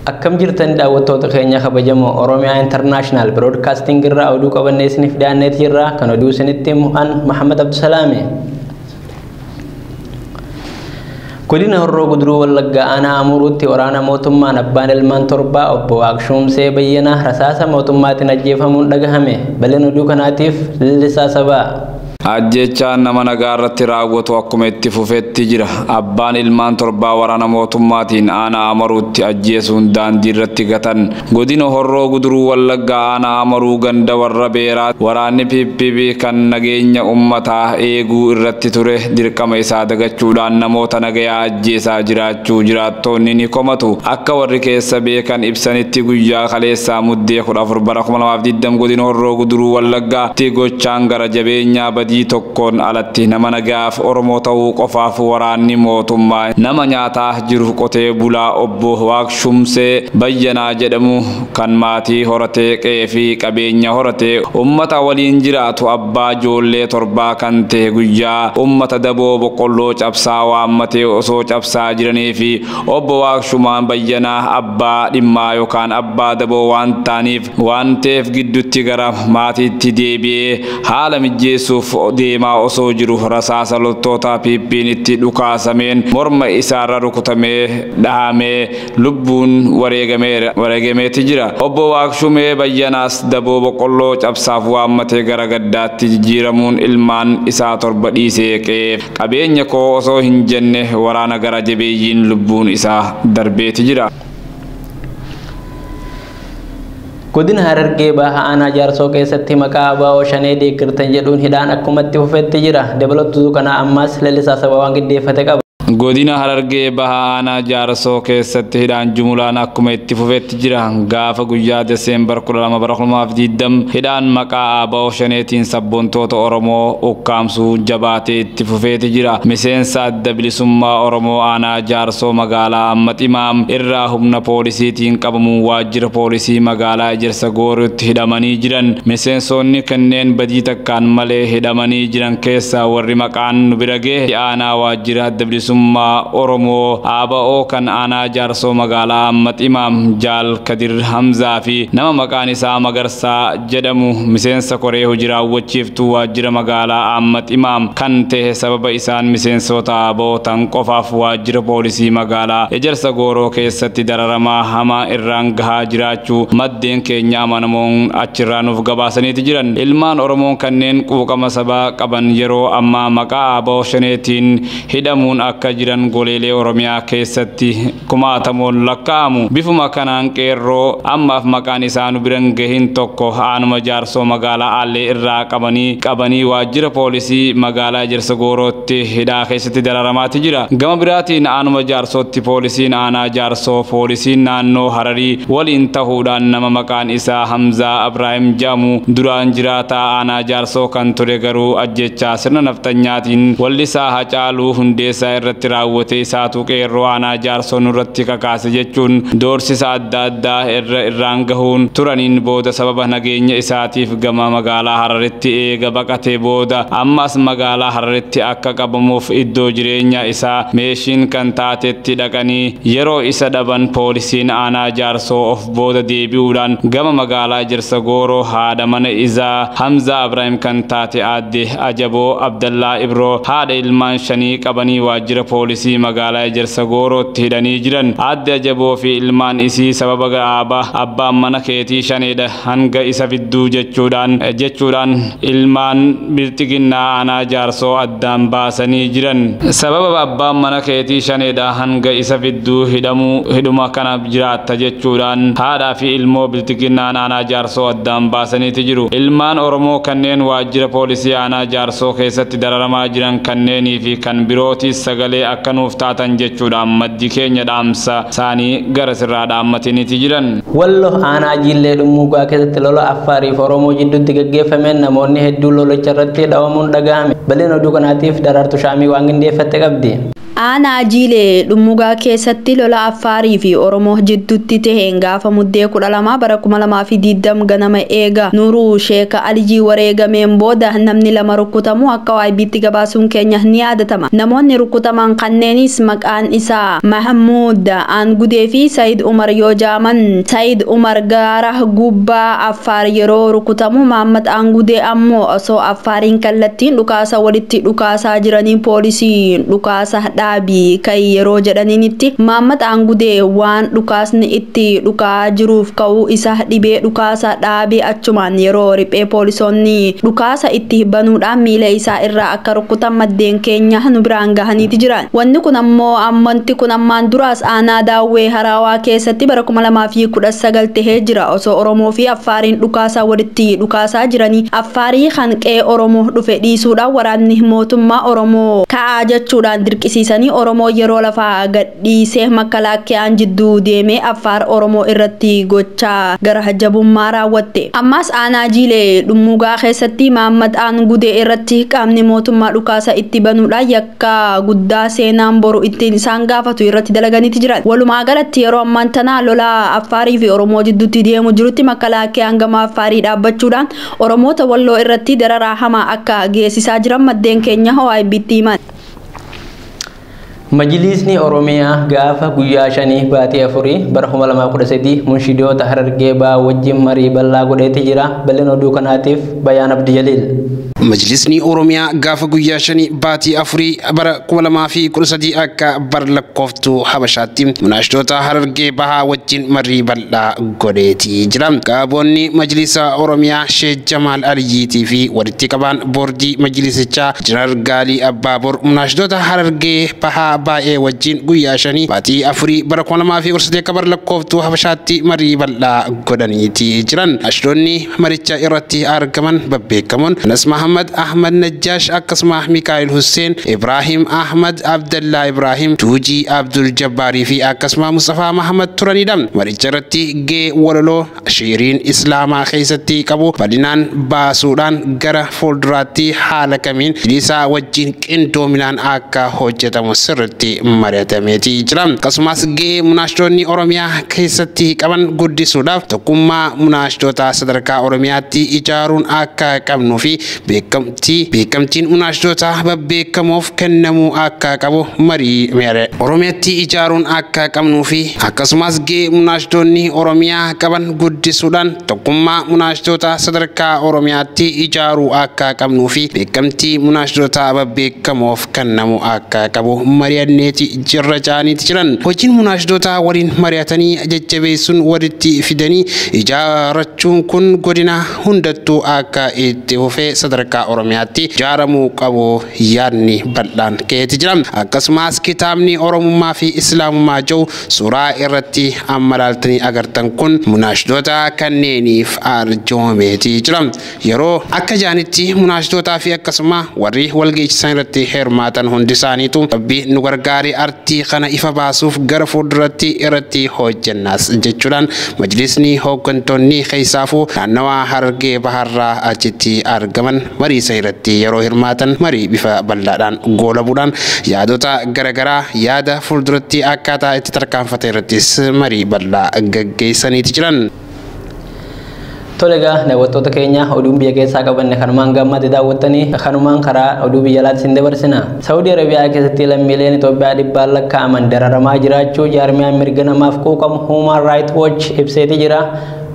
Akkam jirtan daawwattoota keenya kabajamoo Oromiyaa International Broadcasting irraa oduu qabannee isiniif dhiyaanneeti jirra. Kan oduu isinitti himu an Mahammad Abdusalaami. Godina Horroo Guduruu Wallaggaa Aanaa Amuruutti waraana mootummaan abbaan ilmaan torbaa obbo Waaqshuumsee Bayyanaa rasaasa mootummaatiin ajjeefamuun dhagahame. Baleen oduu kanaatiif lillisaa sabaa. Ajjeechaan nama nagaarratti raawwatu akkuma itti fufetti jira. Abbaan ilmaan torbaa waraana mootummaatiin aanaa Amaruutti ajjeesuun daandiirratti gatan Godina Horroo Guduruu Wallaggaa aanaa Amaruu ganda Warra Beeraa waraanni pp kan nageenya ummataa eeguu irratti ture dirqama isaa dagachuudhaan namoota nagayaa ajjeesaa jiraachuu jiraattoonni ni komatu. Akka warri keessa beekan ibsanitti guyyaa kaleessaa Muddee 14 bara 2020 Godina Horroo Guduruu Wallaggaa tti gochaan gara Irra jabeenyaa badii tokkoon alatti nama nagaaf Oromoo ta'uu qofaaf waraanni mootummaa nama nyaataa jiru qotee bulaa obbo Waaqshumsee Bayyanaa jedhamu kan maatii horatee qe'ee fi qabeenya horatee ummata waliin jiraatu abbaa ijoollee torbaa kan ta'e guyyaa ummata daboo boqqolloo cabsaa waammatee osoo cabsaa jiranii fi obbo Waaqshumaan Bayyanaa abbaa dhimmaa yookaan abbaa daboo waan ta'aniif Waan ta'eef gidduutti gara maatiitti deebi'ee haala mijjeessuuf deemaa osoo jiru rasaasa loltootaa PP'n itti dhukaasameen morma isaarra rukutamee dhahamee lubbuun wareegameera wareegameeti jira. Obbo Waaqshumee Bayyanaas daboo boqqolloo cabsaaf waammate gara gaddaatti jijjiiramuun ilmaan isaa torba dhiisee qe'eef qabeenya koo osoo hin jenne waraana gara jabeeyyiin lubbuun isaa darbeeti jira. Godina Harargee Baha Aanaa Jaarsoo keessatti maqaa ABO Shanee deeggartan jedhuun hidhaan akkumatti fufetti jira. Dabalatu Dukanaa ammaas lalisaa saba waan giddeeffate qaba. Godina Harargee Baha Aanaa Jaarsoo keessatti hidhaan jumulaan akkuma itti fufetti jira. Gaafa guyyaa Deseembar 12 bara 2020 hidhaan maqaa ABO Shaneetiin sabboontoota Oromoo ukkaamsuu jabaatee itti fufeeti jira. Miseensa adda bilisummaa Oromoo Aanaa Jaarsoo Magaalaa Ammaximaa irraa humna poolisiitiin qabamuun waajjira poolisii magaalaa Ejersa Gooriutti hidhamanii jiran. Miseensoonni kenneen badii takkaan malee hidhamanii jiran keessaa warri maqaan nu bira gahe itti aanaa waajjira Adda Bilisummaa Oromoo, ABO, kan aanaa Jaarsoo Magaalaa Ammaximaa Jaal Kadir Hamzaa fi nama maqaan isaa Magarsaa jedhamu miseensa koree hojii raawwachiiftuu waajjira magaalaa Aammat Imaam kan ta'e sababa isaan miseensoota abo tan qofaaf waajjira poolisii magaalaa Ejersa Gooroo keessatti dararamaa hamaa irraan gahaa jiraachuu maddeen keenya amanamoon achirraa nuuf gabaasaniiti jiran. Ilmaan Oromoon kanneen quuqama sabaa qaban yeroo ammaa maqaa abo Shanee tiin hidhamuun akka jiran goleelee Oromiyaa keessatti kumaatamoon lakkaa'amu. Bifuma kanaan qeerroo ammaaf maqaan isaa nu bira hin gahin tokko aanuma Jaarsoo magaalaa Aallee irraa qabanii qabanii waajjira poolisii magaalaa Ejersa Goorootti hidhaa keessatti dararamaati jira. Gama biraatiin aanuma Jaarsootti poolisiin aanaa Jaarsoo poolisiin naannoo Hararii waliin tahuudhaan nama maqaan isaa Hamzaa Abraahim jedhamu duraan jiraataa aanaa Jaarsoo kan ture garuu ajjeechaa sirna nafxanyaatiin wallisaa Hacaaluu Hundeessaa irratti raawwate isaatu Qeerroo Aanaa Jaarsoo nurratti kakaase jechuun doorsisa adda addaa irra irraan gahuun turaniin booda sababa nageenya isaatiif gama magaalaa Hararitti eega baqatee booda amma as magaalaa Hararitti akka qabamuuf iddoo jireenyaa isaa Meeshiin kan taatetti dhaqanii yeroo isa dhaban poolisiin Aanaa Jaarsoo of booda deebi'uudhaan gama magaalaa Ejersa Gooroo haadha mana izaa Hamzaa Abraahim kan taate aadde Ajaboo Abdallaa Ibroo haadha ilmaan shanii qabanii waajjira poolisii magaalaa Ejersa Goorootti hidhanii jiran. Aadde Ajaboo fi ilmaan isii sababa ga'aaba abbaan mana keetii shaneedha hanga isa fidduu jechuudhaan jechuudhaan ilmaan Bilxiginnaa aanaa Jaarsoo addaan baasanii jiran. Sababa abbaan mana keetii shaneedha hanga isa fidduu hidhamuu hidhuma kana jiraatta jechuudhaan haadhaa fi ilmoo bilxiginnaan aanaa jaarsoo addaan baasaniiti jiru. Ilmaan Oromoo kanneen waajjira poolisii aanaa jaarsoo keessatti dararamaa jiran kanneenii fi kan birootiis sagalee akka nuuf taatan jechuudhaan maddi keenya dhaamsa saanii gara sirraa dhaammatiniiti jiran. Wallo aanaa Jiillee Dhummuugaa keessatti lola Affaarii fi Oromoo jidduutti gaggeeffameen namoonni hedduun lolicha irratti dhawamuun dhagahame. Bal'ina oduu kanaatiif Daraartu Shaamii waan qindeeffatte qabdi. Aanaa Jiilee Dhummugaa keessatti lola Affaarii fi Oromoo jidduutti taheen gaafa Muddee 12 bara 2020 ganama eega Nuuruu Sheeka Alijii wareegameen booda namni lama rukkutamuu akka YBtti gabaasuun keenya ni yaadatama. Namoonni rukkutaman kanneenis maqaan isaa Mahmuud Aangudee fi Sayid Umar yoo ja'aman, Sayid Umar gaara gubbaa Affaar yeroo rukutamu Maammat Aangudee ammoo osoo Affaariin kallattiin dhukaasa walitti dhukaasaa jiranii poolisiin dhukaasa dhaabi ka'i yeroo jedhaniinitti Maammat Aangudee waan dhukaasni itti dhuka'aa jiruuf ka'uu isa dhibee dhukaasa dhaabee achumaan yeroo riphee poolisoonni dhukaasa itti banuudhaan miila isaa irraa akka rukkutan maddeen keenya nu biraan gahaniiti jiran. Wanni kun ammoo ammonti kun ammaan duraas aanaa Daawwee Haraawaa keessatti bara 2019 tahee jira. Osoo Oromoo fi Affaariin dhukaasa walitti dhukaasaa jiranii Affaarii kan qe'ee Oromoo dhufe dhiisuudhaan waraanni mootummaa Oromoo ka'aa jechuudhaan dirqisiisanii Oromoo yeroo lafaa gad dhiisee makkalaakkeaan jidduu deemee Affaar Oromoo irratti gochaa gara jabummaa raawwatte. Ammaas aanaa Jiilee Dhummuugaa keessatti Maammad Aan Gudee irratti qaamni mootummaa dhukaasa itti banuudhaan yakka guddaa seenaan boru ittiin isaan gaafatu irratti dalaganiiti jiran. Walumaa galatti yeroo ammaan tana lola Affaarii fi Oromoo jidduutti deemu jirutti makkalaakkeaan gama Affaarii dhaabbachuudhaan Oromoota Walloo irratti dararaa hamaa akka geessisaa jiran maddeen keenya OIBtti himan. Majiliisni Oromiyaa gaafa guyyaa 5 baatii 4 bara 2013 munshidoota Harargee Bahaa wajjin marii bal'aa godheeti jira. Bal'ina oduu kanaatiif Bayaan Abdi Jaliil. Majiliisni Oromiyaa gaafa guyyaa 5 baatii 4 bara 2013 akka bar lakkooftuu Habashaatti munaashidoota Harargee Bahaa wajjin marii bal'aa godheeti jira. Qaboonni Majiliisa Oromiyaa Sheek Jamaal Aliyyiitii fi Itti qabaan boordii majlisichaa Injinar Gaalii Abbaabor munaashidoota Harargee Bahaa baay'ee wajjiin guyyaa shanii baatii afurii bara 2013 akka bara lakkooftuu Habashaatti marii bal'aa godhaniiti jiran. Munaashidoonni maricha irratti argaman babbeekamoon Anas Mahammad, Ahmad Najjaash akkasuma Mikaa'il Husseen, Ibraahim Ahmad, Abdallaa Ibraahim, Tuujii Abdul Jabbaarii fi akkasuma Musxafaa Mahammad turanidha. Maricha irratti gahee walaloo. Shiiriin Islaamaa keessatti qabu bal'inaan baasuudhaan gara fuulduraatti haala kamiin bilisaa wajjin qindoominaan akka hojjetamu sirritti mari'atameeti jira. Akkasumas ga'ee munaashdoonni Oromiyaa keessatti qaban guddisuudhaaf tokkummaa munaashdootaa sadarkaa Oromiyaatti ijaaruun akka qabnuu fi beekamtii irratti beekamtiin unaashdoota babbeekamoof kennamuu akka qabu marii mere Oromiyatti ijaaruun akka qabnuu fi akkasumas ga'ee munaashdoonni Oromiyaa qaban guddisuudhaan tokkummaa munaashdoota sadarkaa Oromiyaatti ijaaruu akka qabnuu fi beekamtii munaashdoota babbeekamoof kennamu akka qabu mari'anneeti jirra ja'aniiti jiran. Hojiin munaashdoota waliin mari'atanii jajjabeessuun walitti fidanii ijaarachuun kun godina hundattuu akka itti fufee sadarkaa Oromiyaatti jaaramuu qabu yaadni bal'aan ka'eeti jira. Akkasumaas kitaabni Oromummaa fi Islaamummaa ja'u suuraa irratti amma laaltanii agartan kun munaashdoota kanneeniif arjoomeeti jira. Yeroo akka ja'anitti munaashdootaa fi akkasuma warri walga'icha san irratti hirmaatan hundi isaaniitu Rabbi nu gargaari artii kana ifa baasuuf gara fuulduratti irratti hojjennaas jechuudhaan Majlisni hooggantoonni keessaafuu naannawaa Harargee Bahaarraa achitti argaman marii san irratti yeroo hirmaatan marii bifa bal'aadhaan goolabuudhaan yaadota gara garaa yaada fuulduratti akkaataa itti tarkaanfatan irrattis marii bal'aa gaggeessaniiti jiran. Tole egaa daawwattoota keenya oduun biyya keessaa qabanne kanumaan gaammaatti daawwattanii kanumaan karaa oduu biyya alaatti isin dabarsina. Saawudii Arabiyaa keessatti lammiileen Itoophiyaa dhibbaan lakkaa'aman dararamaa jiraachuu jaarmiyaan mirga namaaf quuqamu Human Right Watch ibseeti jira.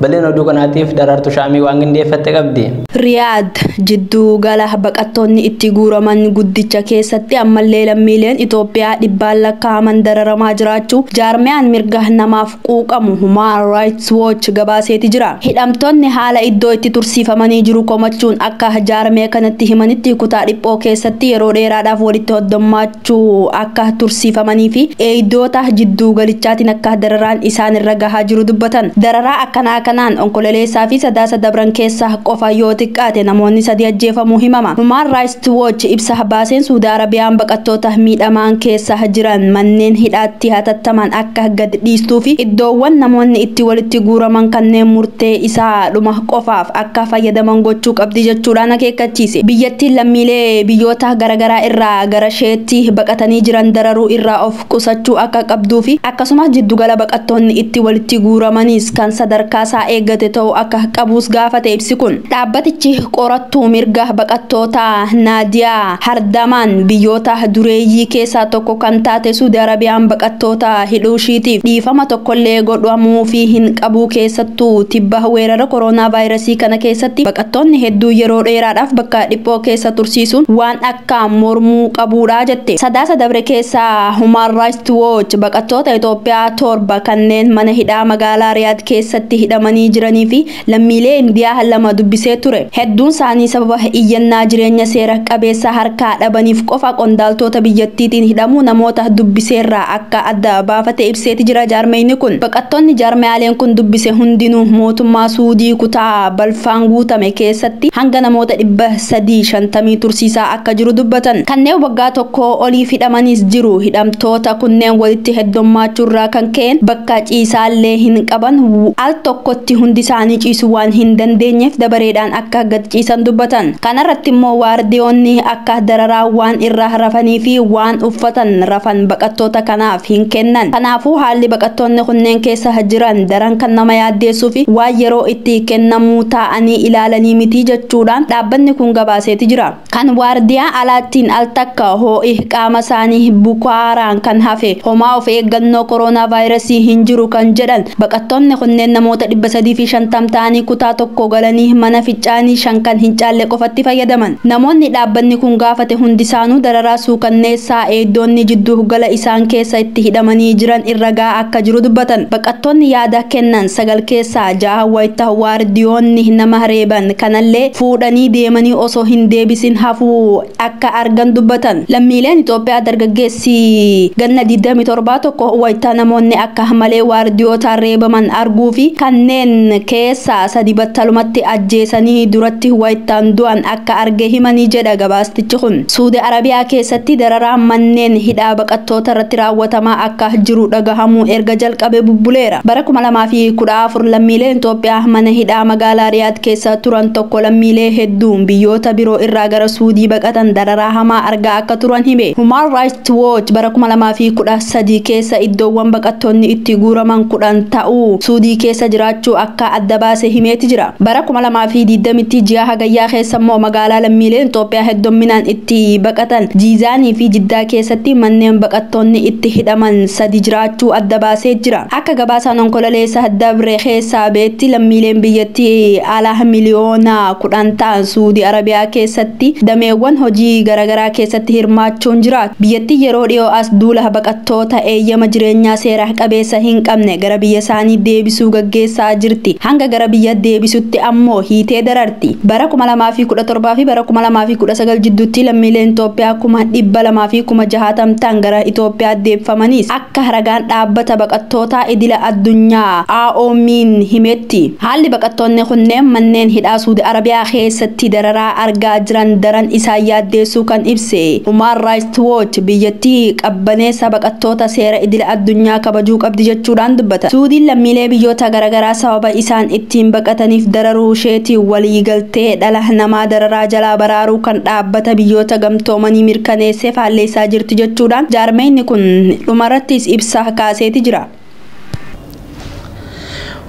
Bal'ina oduu kanaatiif Daraartu Shaamii waan qindeeffatte qabdi. Riyaad, Jidduu gala baqattoonni itti guuraman guddicha keessatti ammallee lammiileen Itoophiyaa dhibbaan lakkaa'aman dararamaa jiraachuu jaarmiyaan mirga namaaf quuqamu Human Rights Watch gabaaseeti jira. Hidhamtoonni haala iddoo itti tursiifamanii jiru komachuun akka jaarmiya kanatti himanitti kutaa dhiphoo keessatti yeroo dheeraadhaaf walitti hoddommaachuun akka tursiifamanii fi eeydoota jidduu galichaatiin akka dararaan isaan irra gahaa jiru dubbatan. Dararaa akkanaa kanaan Onkoleleessaa fi Sadaasa dabran keessa qofa yoo xiqqaate namoonni sadii ajjeefamuu himama. Human Rights Watch ibsa baaseen Suudi Arabiyaan baqattoota miidhamaan keessa jiran manneen hidhaatti hatattamaan akka. akka gad dhiistuu fi iddoowwan namoonni itti walitti guuraman kanneen murtee isaa dhuma qofaaf akka fayyadaman gochuu qabdi jechuudhaan akeekkachiise. Biyyattiin lammiilee biyyoota garagaraa irraa garasheetti baqatanii jiran dararuu irraa of qusachuu akka qabduu fi akkasumas jiddugala baqattoonni itti walitti guuramanis kan sadarkaa isaa eeggate ta'uu akka qabuus gaafate ibsi kun. Dhaabbatichi qorattuu mirga baqattootaa Naadiyaa. Hardamaan biyyoota dureeyyii keessaa tokko kan taate Suudi Arabiyaan baqattoota hidhuushiitiif dhiifama tokkollee godhamuufii hin qabu keessattuu tibba weerara koronaavaayirasii kana keessatti baqattoonni hedduu yeroo dheeraadhaaf bakka dhiphoo keessa tursiisuun waan akkaan mormuu qabuudha jette. Sadaasa dabre keessa Humaan Raayist Wooch baqattoota Itoophiyaa torba kanneen mana hidhaa magaalaa Riyaad keessatti hidhamanii jiraniifi Lammiilee Indiyaa lama dubbisee ture. Hedduun isaanii sababa iyyannaa jireenya seera qabeessa harkaa dhabaniif qofa qondaaltoota biyyattiitiin hidhamuu namoota dubbiseerraa akka adda baafate ibseeti jira jaarmayni kun. Baqattoonni jaarmayaaleen kun dubbise hundinuu mootummaa Suudii kutaa balfaan guutame keessatti hanga namoota 350 tursiisaa akka akka jiru dubbatan. Kanneen waggaa tokkoo oliif hidhamaniis jiru. Hidhamtoota kunneen walitti heddommaachuurraa kan ka'een bakka ciisaallee hin qaban, al tokkotti hundisaanii ciisuu waan hin dandeenyeef dabareedhaan akka gad ciisan dubbatan. Kanarrattimmoo waardiyoonni akka dararaa waan irra rafaniifi waan uffatan rafan baqattoota kanaaf hin kennan. Kanaafuu haalli baqattoonni kunneen keessa jiran daran kan nama yaaddeessuufi waan yeroo itti kennamuu ta'a. anii ilaalanii mitii jechuudhaan dhaabbanni kun gabaaseeti jira. Kan waardiyaa alaattiin al takka hoo'i qaama saanii bukaaraan kan hafe homaa of eeggannoo koronaavaayirasii hin jiru kan jedhan baqattoonni kunneen namoota 350 ta'anii kutaa tokko galanii mana ficcaanii shan kan hin caalle qofatti fayyadaman. Namoonni dhaabbanni kun gaafate hundisaanuu dararaa suukanneessaa eegdoonni jidduu gala isaan keessa itti hidhamanii jiran irra ga'aa akka jiru dubbatan baqattoonni yaada kennan 9 keessaa 6 wayta waardiyoonni nama reeban kanallee fuudhanii deemanii osoo hin deebisin hafuu akka argan dubbatan lammiileen Itoophiyaa dargaggeessi ganna 27 tokko wayta namoonni akka malee waardiyootaan reebaman arguu fi kanneen keessaa sadi battalumatti ajjeesanii duratti waytaan du'an akka arge himanii jedha gabaastichi kun. Suudi Arabiyaa keessatti dararaan manneen hidhaa baqattootarratti raawwatamaa akka jiru dhagahamuu erga jalqabee bubbuleera. Bara 2014 lammiileen Xoophiyaa mana hidhaa magaalaa Riyaad keessa turan tokko lammiilee hedduun biyyoota biroo irraa gara Suudii baqatan dararaa hamaa argaa akka turan hime. Human Rights Watch bara 2013 keessa iddoowwan baqattoonni itti guuraman 10 ta'u Suudii keessa jiraachuu akka adda baase himeeti jira. Bara 2020tti ji'a Hagayyaa keessa immoo magaalaa lammiileen Xoophiyaa heddomminaan itti itti baqatan Jiizaanii fi Jiddaa keessatti manneen baqattoonni itti hidhaman sadi jiraachuu adda baasee jira. Akka gabaasaan Onkololeessa dabre keessaa ba'etti lammiileen biyyattii alaa miliyoona 10 ta'an Suudi Arabiyaa keessatti dameewwan hojii garagaraa keessatti hirmaachuun jiraatu. Biyyattiin yeroo dhiyoo as duula baqattoota eeyyama jireenyaa seera qabeessa hin qabne gara biyyasaanii deebisuu gaggeessaa jirti. Hanga gara biyya deebisutti ammoo hiitee dararti. irratti bara 2017 fi bara 2019 jidduutti lammiileen Itoophiyaa kuma 200 fi kuma 60 ta'an gara Itoophiyaa deebifamanis akka ragaan dhaabbata baqattootaa idila addunyaa IOM'n himetti haalli baqattoonni kunneen manneen hidhaa Suudi Arabiyaa keessatti dararaa argaa jiran daran isaan yaaddeessuu kan ibse Human Rights Earthwatch biyyattii qabbaneessa baqattoota seera idila addunyaa kabajuu qabdi jechuudhaan dubbatan. Suudiin lammiilee biyyoota garagaraa sababa isaan ittiin baqataniif dararuu isheetiin waliigaltee dhala namaa dararaa jalaa baraaruu kan Dhaabbata Biyyoota Gamtoomanii mirkaneesse faalleessaa jirti jechuudhaan jaarmayni kun dhumarrattis ibsa kaaseeti jira.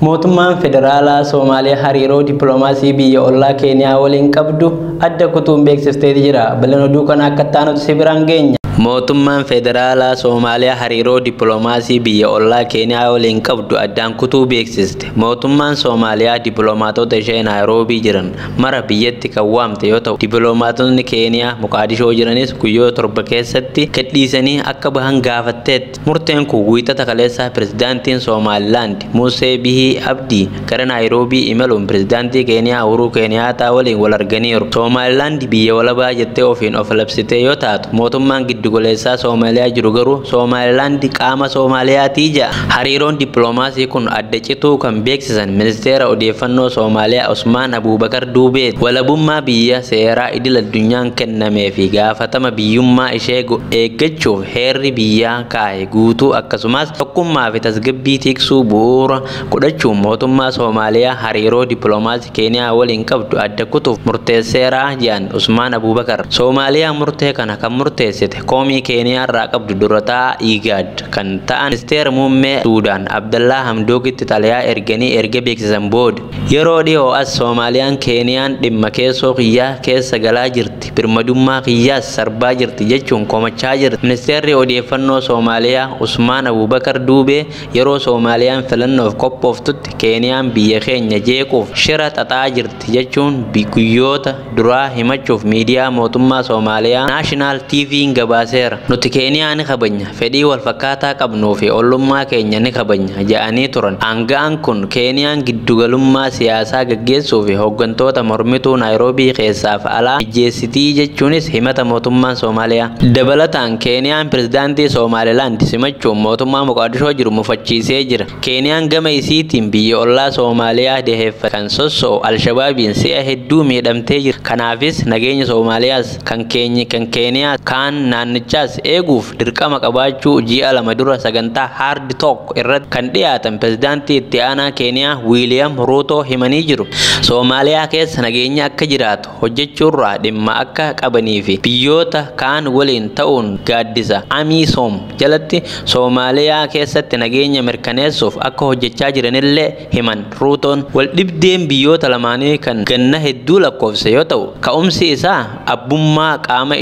Mootummaan Federaalaa Soomaaliyaa hariiroo dippiloomaasii biyya ollaa Keeniyaa waliin qabdu adda kutuun beeksisteeti jira. Bal'ina oduu kanaa akka itti aanutti si biraan geenya. Mootummaan Federaalaa Soomaaliyaa hariiroo dippiloomaasii biyya ollaa Keeniyaa waliin qabdu addaan kutuu beeksiste. Mootummaan Soomaaliyaa dippiloomaatota ishee Naayiroobii jiran mara biyyatti kan waamte yoo ta'u, dippiloomaatotni Keeniyaa Moqaadishoo jiranis guyyoota torba keessatti gadhiisanii akka bahan gaafatteetti. Murteen kun wiixata kaleessaa pirezidaantiin Soomaalilaand Musee Bihii Abdii gara Naayiroobii imaluun pirezidaantii Keeniyaa Uhuruu Keeniyaataa waliin wal arganiiru. Soomaalilaand biyya walabaa jettee ofiin of labsitee yoo taatu, mootummaan giddugoleessaa Soomaaliyaa jiru garuu Soomaalilaand qaama Soomaaliyaatii jedha. Hariiroon dippiloomaasii kun adda cituu kan beeksisan Ministeera Odeeffannoo Soomaaliyaa Usmaan Abuubakar Duubeeti. Walabummaa biyya seeraa idil-addunyaan kennameefi gaafatama biyyummaa ishee eeggachuuf heerri biyyaa kaa'e guutuu akkasumaas tokkummaa fi tasgabbii tiksuu bu'uura godhachuun mootummaa Soomaaliyaa hariiroo dippiloomaasii Keeniyaa waliin qabdu adda kutuuf murteesseera jedhan Usmaan Abuubakar. Soomaaliyaan murtee kana kan murteessite komii Keeniyaarraa qabdu dura taa'aa IGAD kan ta'an Ministeera Muummee Suudaan Abdallaa Hamdookitti xalayaa erganii erga beeksisan booda. Yeroo dhihoo as Soomaaliyaan Keeniyaan dhimma keessoo kiyyaa keessa galaa jirti. birmadummaa kiyyaas sarbaa jirti jechuun komachaa jirti. Ministeerri Odeeffannoo Soomaaliyaa Usmaan Abuubakar Duubee yeroo Soomaaliyaan filannoof qophooftutti Keeniyaan biyya keenya jeequuf shira xaxaa jirti jechuun guyyoota duraa himachuuf miidiyaa mootummaa Soomaaliyaa Naashinaal TV'n gabaaseera. Nuti Keeniyaa ni kabajna. fedhii wal fakkaataa qabnuu fi ollummaa keenya ni kabajna jedhanii turan. Aanga'aan kun Keeniyaan giddugalummaa siyaasaa gaggeessuu fi hoggantoota mormituu Naayiroobii keessaaf alaa mijjeessiti jechuunis himata mootummaan Soomaaliyaa. Dabalataan Keeniyaan Pirezidaantii Soomaalilaand simachuun mootummaa Moqaadishoo jiru mufachiisee jira. Keeniyaan gama isiitiin biyya ollaa Soomaaliyaa daheeffattee kan sosso'u Alshabaabiin si'a hedduu miidhamtee jirti. Kanaafis nageenya Soomaaliyaas. kan keenyi kan Keeniyaa kaan naannichaas eeguuf dirqama qabaachuu ji'a lama dura sagantaa Hard Talk irratti kan dhiyaatan pirezidaantii itti aanaa Keeniyaa Wiiliyaam Ruutoo himanii jiru. Soomaaliyaa keessa nageenyi akka jiraatu hojjechuurraa dhimma akka qabanii fi biyyoota kaan waliin ta'uun gaaddisa Amiisoom jalatti Soomaaliyaa keessatti nageenya mirkaneessuuf akka hojjechaa jiranillee himan Ruutoon. Waldhibdeen biyyoota lamaanii kan ganna hedduu lakkoofse yoo ta'u, ka'umsi isaa abbummaa qaama,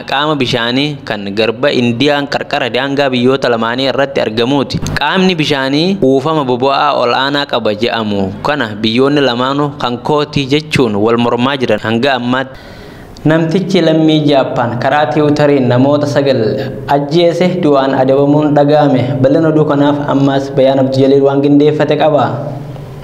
qaama bishaanii kan garba Indiyaan qarqara daangaa biyyoota lamaanii irratti argamuuti. Qaamni bishaanii kuufama bobo'aa ol'aanaa qaba je'amu kana biyyoonni lamaanuu kan kooti jechuun wal mormaa jiran hanga ammaatti. Namtichi lammii Jaappaan karaa tiwutariin namoota 9 ajjeese du'aan adabamuun dhaga'ame. Bal'ina oduu kanaaf ammaas Bayaan Abdujaliil waan gindeeffate qaba.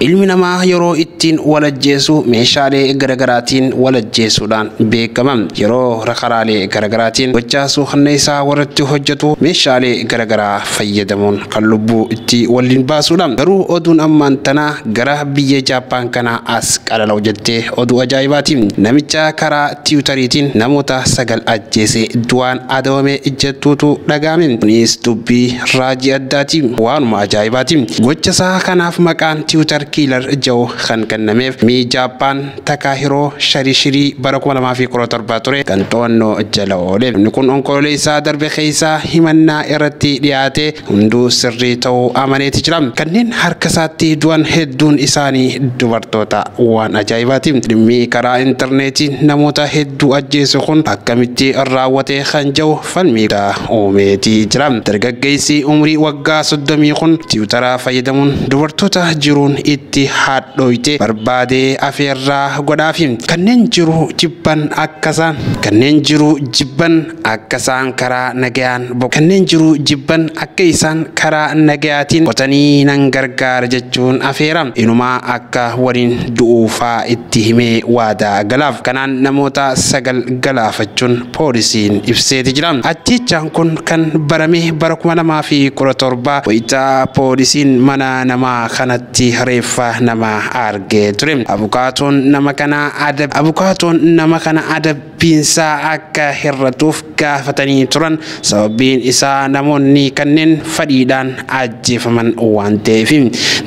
Ilmi namaa yeroo ittiin wal ajjeesu meeshaalee garagaraatiin wal ajjeesuudhaan beekama. Yeroo karaalee garagaraatiin gochaa suukanneessaa warratti hojjatu meeshaalee garagaraa fayyadamuun kan lubbuu itti waliin baasuudha. Garuu oduun ammaan tana gara biyya Jaappaan kanaa as qalalaw jette oduu ajaa'ibaati. Namicha karaa tiwutariitiin namoota sagal ajjeese du'aan adabame jettuutu dhaga'ame. Kunis dubbii raajii addaati. Waanuma ajaa'ibaati. Gocha isaa kanaaf maqaan Tiwutar Kiilar Jaw kan kennameef Mi Jaappaan Takaahiroo Sharishirii bara 2017 ture kan to'annoo jala oole. Namni kun Onkololeessa darbe keessa himannaa irratti dhiyaate hunduu sirrii ta'uu amaneeti jira. Kanneen harka isaatti du'an hedduun isaanii dubartoota. Waan ajaa'ibaati. Dhimmi karaa intarneetii namoota hedduu ajjeesu kun akkamitti raawwate kan jedhu falmii guddaa uumeeti jira. Dargaggeessi umrii waggaa soddomii kun tiwutara fayyadamuun dubartoota jiruun itti hadhooyte barbaadee afeerraa godhaafi. Kanneen jiruu jibban akkasaan kanneen jiruu jibban akka isaan karaa nagayaan boqotan, kanneen jiru jibban akka isaan karaa nagayaatiin boqotanii nan gargaara jechuun afeera. Inumaa akka waliin du'u faa itti himee waadaa galaaf. Kanaan namoota sagal galaafachuun poolisiin ibseeti jira. Ajjeechaan kun kan barame bara 2017 wayita poolisiin mana nama kanatti reeffa namaa argee ture. Abukaatoon nama kanaa adab Abukaatoon nama kana adab piinsaa akka hir'atuuf gaafatanii turan sababiin isaa namoonni kanneen fadhiidhaan ajjeefaman waan ta'eef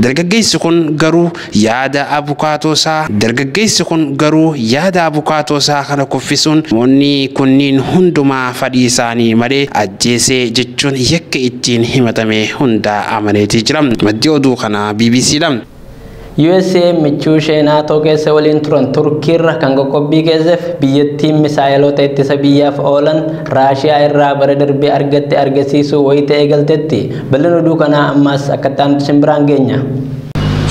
dargaggeessi kun garuu yaada abukaatoosaa dargaggeessi kun garuu yaada abukaatoosaa kana kuffisuun namoonni kunniin hundumaa fadhii isaanii malee ajjeesee jechuun yakka ittiin himatame hundaa amaneetii jira maddi oduu kanaa BBCdha. USA michuu ishee naatoo keessa waliin turan Turkiirra kan qoqqobbii keesseef biyyattiin misaa'eloota ittisa biyyaaf oolan Raashiyaa irraa bara darbee argatte argisiisuu wayita eegaltetti. Bal'ina oduu kanaa ammaas akkatti aanutti isin biraan geenya.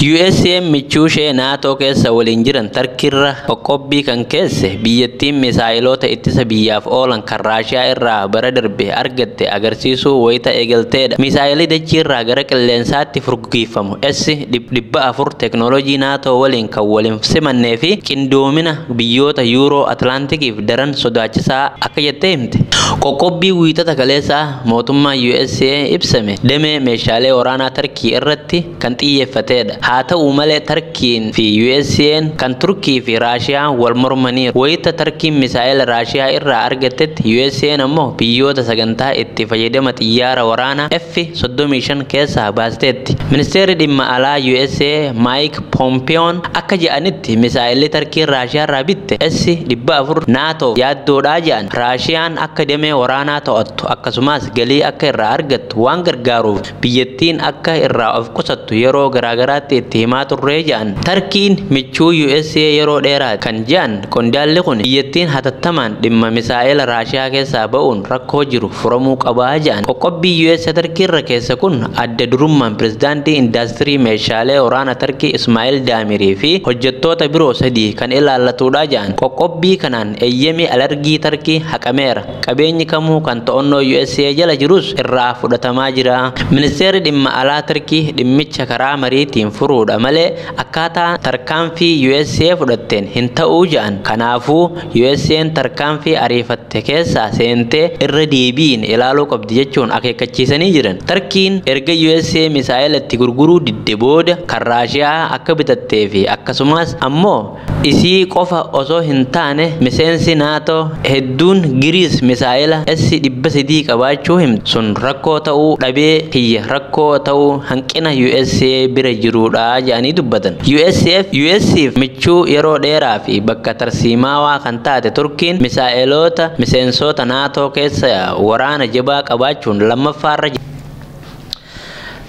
USA michuu ishee naatoo keessa waliin jiran Tarkiirra qoqqobbii kan keesse biyyattiin misaa'eloota ittisa biyyaaf oolan kan Raashiyaa irraa bara darbe argatte agarsiisuu wayita eegalteedha. Misaa'elii dachiirraa gara qilleensaatti furguggiiffamu. US dhibba afur teknoolojii NATO waliin kan wal hin simannee fi qindoomina biyyoota Yuuroo Atlaantikiif daran sodaachisaa akka jettee himte. Qoqqobbii wiixata kaleessaa mootummaan USA ibsame damee meeshaalee waraanaa Tarkii irratti kan xiyyeeffateedha. Haa ta'u malee Tarkiin fi USA'n kan Turkii fi Raashiyaan wal mormaniiru. Wayita Tarkiin misaa'ela Raashiyaa irraa argattetti USA'n ammoo biyyoota sagantaa itti fayyadama xiyyaara waraanaa F 35 keessaa baasteetti. Ministeerri dhimma alaa USA Maayik Poompiyoon akka jedhanitti misaa'elli Tarkiin Raashiyaarraa bitte S-400 NATO'f yaaddoodha jedhan. Raashiyaan akka damee waraanaa to'attu akkasumas galii akka irraa argattu waan gargaaruuf biyyattiin akka irraa of qusattu yeroo garaagaraatti itti himaa turre jedhan. Tarkiin michuu USA yeroo dheeraati kan jedhan Qondaalli kun biyyattiin hatattamaan dhimma misaa'ela Raashiyaa keessaa ba'uun rakkoo jiru furamuu qaba jedhan. Qoqqobbii US Tarkii irra keesse kun adda durummaan pirezidaantii indaastirii meeshaalee waraana Tarkii Ismaa'il Daamirii fi hojjettoota biroo sadii kan ilaallatudha jedhan. Qoqqobbii kanaan eeyyamii alergii Tarkii haqameera. Qabeenyi kamuu kan to'annoo USA jala jirus irraa fudhatamaa jira. Ministeerri dhimma alaa Tarkii dhimmicha karaa mariitiin furuudha malee Akkaataa tarkaanfii usa fudhatteen hin ta'uu ja'an. Kanaafuu USAn tarkaanfii ariifatte keessaa seentee irra deebi'iin ilaaluu qabdi jechuun akeekkachiisanii jiran. Tarkiin erga usa misaa'ela itti gurguruu didde booda kan Raashiyaa akka bitattee fi akkasumaas ammoo Isii qofa osoo hin taane miseensi Nato hedduun Giriis misaa'ela S-300 qabaachuu himtu. Sun rakkoo ta'uu dhabee kiyya rakkoo ta'uu hanqina usa bira jiruudha jedhanii dubbatan. US'f michuu yeroo dheeraa fi bakka tarsiimaawaa kan taate Turkiin misaa'eloota miseensoota Nato keessa yaa'u waraana jabaa qabaachuun lammaffaarra jirti.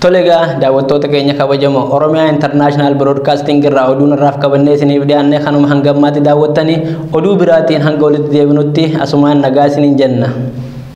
Tole egaa daawwattoota keenya kabajamoo Oromiyaa International Broadcasting irraa oduun irraaf qabannee isiniif dhiyaanne kanuma hanga ammaatti daawwattanii oduu biraatiin hanga walitti deebinutti asumaan nagaa isiniin jenna.